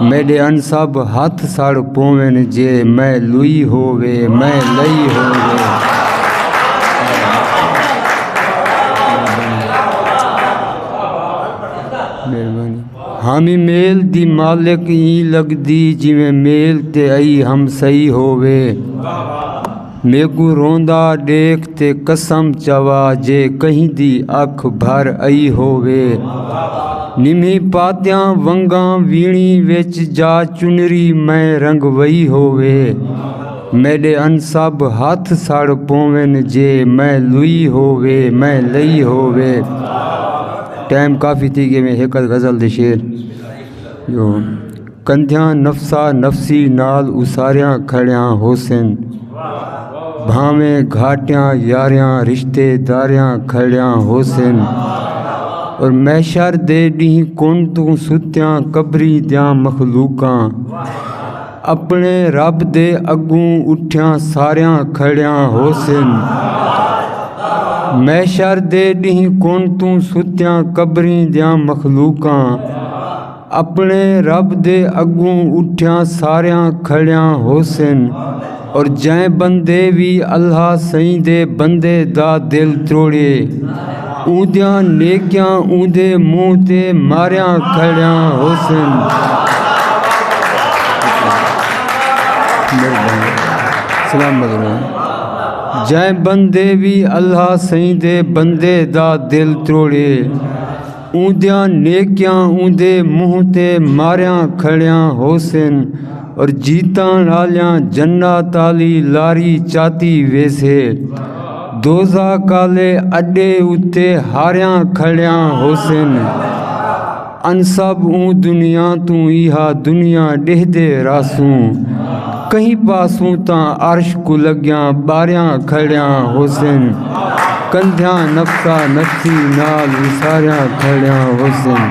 میڈے ان سب ہتھ سڑ پوون جے میں لوئی ہووے میں لئی ہووے ہامی میل دی مالک ایں لگدی جویں میل تے ائی ہم سئی ہووے میکوں روندا ݙیکھ تے قسم چوا جے کہیں دی اکھ بھر آئی ہووے نمھی پاتیاں ونگاں ویݨی وچ جا چنری میں رنگوئی ہووے میݙے انسب ہتھ سڑ پوون جے میں لوئی ہووے میں لئی ہووے ٹائم کافی تھی ڳئے میں ہک ادھ غزل دے شعر جو کندھیاں نفسا نفسی نال اساریاں کھڑیاں ہوسن بھانویں گھاٹیاں یاریاں رشتے داریاں کھڑیاں ہوسن اور محشر دے ڈینہہ کن توں ستیاں قبری دیاں مخلوقاں اپنے رب دے اگوں اٹھیاں ساریاں کھڑیاں ہوسن محشر دے ڈینہہ کن توں ستیاں قبری دیاں مخلوقاں اپنے رب دے اگوں اٹھیاں ساریاں کھڑیاں ہوسن اور جیں بندے وی اللہ سئیں دے بندے دا دل تروڑے اوندیاں نیکیاں اوندے منہ تے ماریاں کھڑیاں ہوسن جیں بندے وی اللہ سئیں دے بندے دا دل تروڑے اوندیاں نیکیاں اوندے منہ تے ماریاں کھڑیاں ہوسن اور جیتن آلیاں جنت آلی لاری چاتی ویسے دوزخ آلے اڈے اتے ہاریاں کھڑیاں ہوسن انسب اوں دنیا توں ایہا دنیا ڈیہدے رہسوں کہیں پاسوں تاں عرش کوں لگیاں ٻاریاں کھڑیاں ہوسن کندھیاں نفسا نفسی نال وساریاں کھڑیاں ہوسن۔